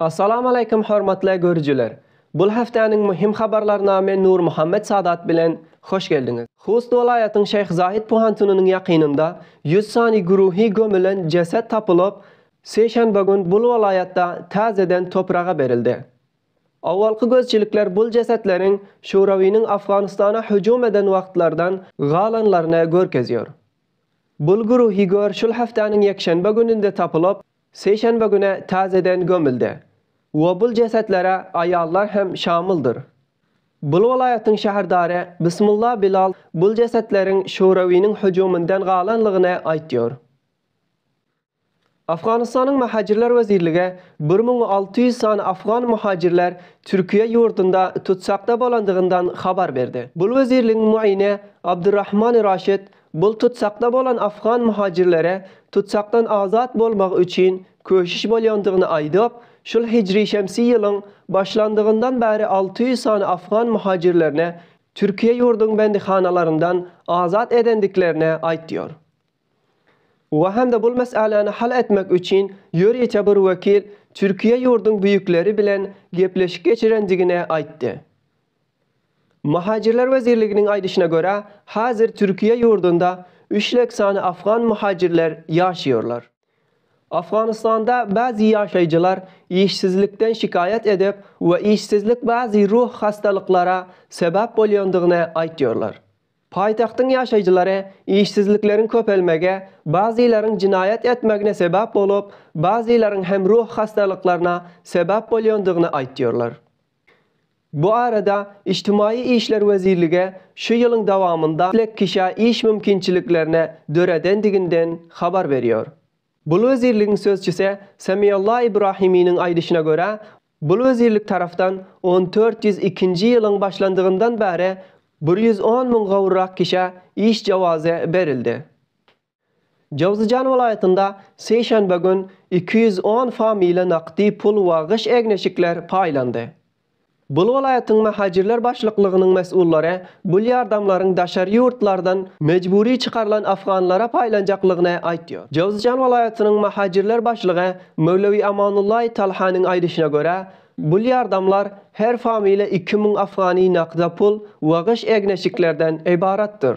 Assalamualeýkum hormatly görüjiler! Bul hepdäniň muhim habarlaryna men Nurmuhammet Sadat bilen hoş geldiňiz! Hust welaýatyň Şeýh Zahid Puhantynynyň ýakynynda ýüz sany güruhi gömülen jeset tapylyp, sişenbe gün bul welaýatda täzeden topraga berildi. Owalky gözçilikler bul jesetleriň Şurawynyň Afganystana hüjüm eden wagtlardan galanlaryny görkezýär. Bul güruhi gör şul hepdäniň ýekşenbe gününde tapylyp, Sişenbe güne täzeden gömüldi we bul jesetlere aýallar hem şamyldyr. Bul welaýatyň şäherdary Bismullah Bilal bul jesetleriň şorewiniň hüjüminden galanlygyny aýtýar. Afganystanyň Mahajirler wezirligi bir müň alty ýüz sany afgan muhajirler Türkiýe ýurdunda tutsakda bolandygyndan habar berdi. Bul wezirligiň muini Abdurrahmani Raşid Bul tutsakda bolan afgan muhajirlere tutsakdan azat bolmagy üçin köşüş bolýandygyny aýdyp, şul hijri-şemsi ýylyň başlandygyndan bäri alty ýüz sany afgan muhajirlerine Türkiýe ýurduň bendihanalaryndan azat edendiklerini aýtýar. We hem-de bul mes'äläni hal etmek üçin ýörite bir wekil Türkiýe ýurduň büýükleri bilen gepleşik geçirendigini aýtdy. Muhajirler wezirliginiň aýdyşyna görä, häzir Türkiýe ýurdunda üç lek sany afgan muhajirler ýaşaýarlar. Afganystanda bäzi ýaşaýjylar işsizlikden şikaýat edip we işsizlik bäzi ruh hassalyklara sebäp bolýandygyny aýtýarlar. Paýtagtyň ýaşaýjylary işsizlikleriň köpelmegi bäzilaryň jenaýat etmegine sebäp bolup, bäzilaryň hem ruh hassalyklaryna sebäp bolýandygyny aýtýarlar. Bu arada Ijtimaýy işler wezirligi şu ýylyň dowamynda ýüz elli kişä iş mümkinçiliklerini döredendiginden habar berýär. Bul wezirligiň sözçüsi Semialla Ibrahiminiň aýdyşyna görä, bul wezirlik tarapdan on dört ýüz ikinji ýylyň başlandygyndan bäri bir ýüz on müň gowrak kişä iş jawazy berildi. Jowzjan welaýatynda sişenbe gün iki ýüz on fa mile nakdi pul we gyş egneşikler paýlandy. Bul welaýatyň Mähajirler başlyklygynyň mes'ullary bul ýardamlaryň daşary ýurtlardan mejbury çykarylan afganlara paýlanjaklygyny aýtýar. Jowzjan welaýatynyň Mähajirler başlygy Möwlewi Amanullaý Talhanyň aýdyşyna görä, bul ýardamlar her fa mile iki müň afgani nakda pul we gyş egneşiklerden ybaratdyr.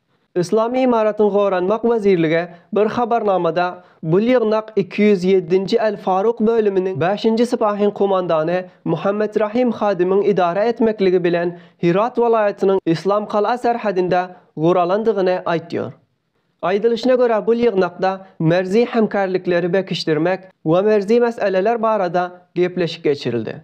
Yslamy Ymaratyň Goranmak wezirligi bir habarnamada bul ýygnak iki ýüz ýedinji Al-Faruk bölüminiň bäşinji sypahyň komandany Muhammet Rahim Hadimiň idara etmekligi bilen Hyrat welaýatynyň Yslam Kala serhedinde guralandygyny aýtýar. Aýdylyşyna görä bul ýygnakda merzi hemkärlikleri bekişdirmek we merzi meseleler barada gepleşik geçirildi.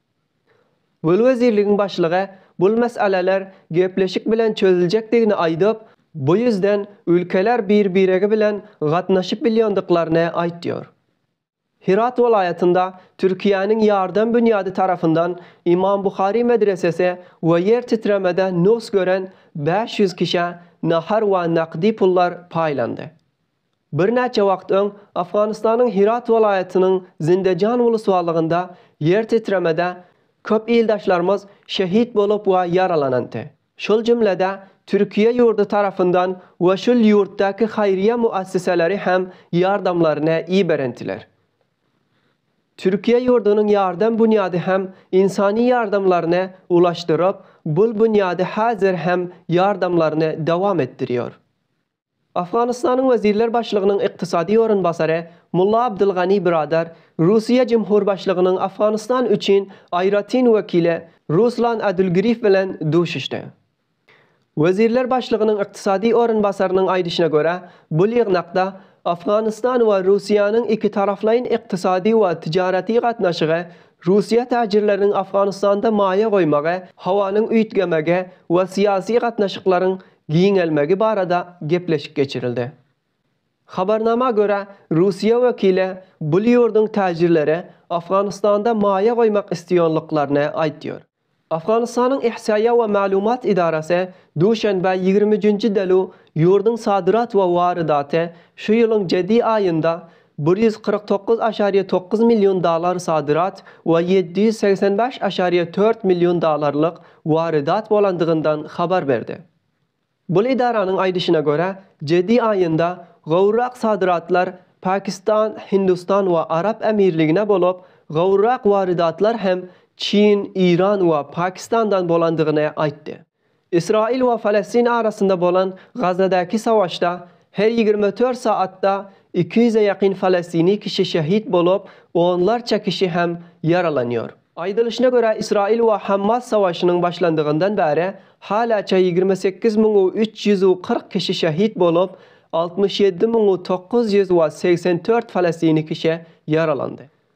Gül wezirligiň başlygy bul meseleler gepleşik bilen çözüljekdigini aýdyp, bu ýüzden ülkeler bir-biregi bilen gatnaşyp bilýändiklaryny aýtýar. Hyrat welaýatynda Türkiýäniň ýardam binýady tarapyndan Imam Buhari medresesi we ýer titremede nugs gören bäş ýüz kişä nahar we nakdi pullar paýlandy. Birnäçe wagt öň Afganystanyň Hirat welaýatynyň Zindejan uluslarlygynda ýer titremede köp ildaşlarymyz şehit bolup we ýaralanandy. Şol jümlede Türkiýe ýurdy tarapyndan we şul ýurtdaky haýryýa müesseseleri hem ýardamlaryny iberendiler. Türkiýe ýurdunyň ýardam bunýady hem ynsany ýardamlaryny ulaşdyryp, bul bunýady häzir hem ýardamlaryny dowam etdirýor. Owganystanyň Wezirler başlygynyň ykdysady orunbasary Mulla Abdulgani Biradar Russiýa Jumhurbaşlygynyň Owganystan üçin aýratyn wekili Ruslan Adulgiriýew bilen duşuşdy. Wezirler başlygynyň ykdysady orunbasarynyň aýdyşyna görä, bu ýygnakda Owganystan we Russiýanyň ikitaraplaýyn ykdysady we tijaraty gatnaşygy, russiýa täjirleriniň Owganystanda maýa goýmagy, howanyň üýtgemegi we syýasy gatnaşyklaryň giňelmegi barada gepleşik geçirildi. Habarnama görä, Russiýa wekili bu ýurduň täjirleri Afganystanda maýa goýmak isleýänliklerini aýtýar. Afganystanyň Ihsýaýa we maglumat edarasy duşenbe ýigrimi üçünji delu ýurduň sadyrat we warydaty şu ýylyň jedi aýynda bir ýüz kyrk dokuz aşariýe dokuz million dollar sadyrat we ýedi ýüz segsen bäş aşariýe dört million dollarlyk warydat bolandygyndan habar berdi. Bul edaranyň aýdyşyna görä, jedi aýynda gowrak sadyratlar Pakistan, Hindistan we Arap Emirligine bolup, gowrak warydatlar hem Çin, Iran we Pakistandan bolandygyny aýtdy. Ysraýyl we Palestin arasynda bolan Gazadäki savaşda her ýigrimi dört saatda iki ýüze ýakyn palestini kişi şehit bolup, onlarça kişi hem ýaralanýar. Aýdylyşyna görä, Ysraýyl we Hammas savaşynyň başlandygyndan bäri halaça ýigrimi sekiz müň u üç ýüz u kyrk kişi şehit bolup, altmyş ýedi müň u dokuz ýüz we segsen dört palestini kişi ýaralandy.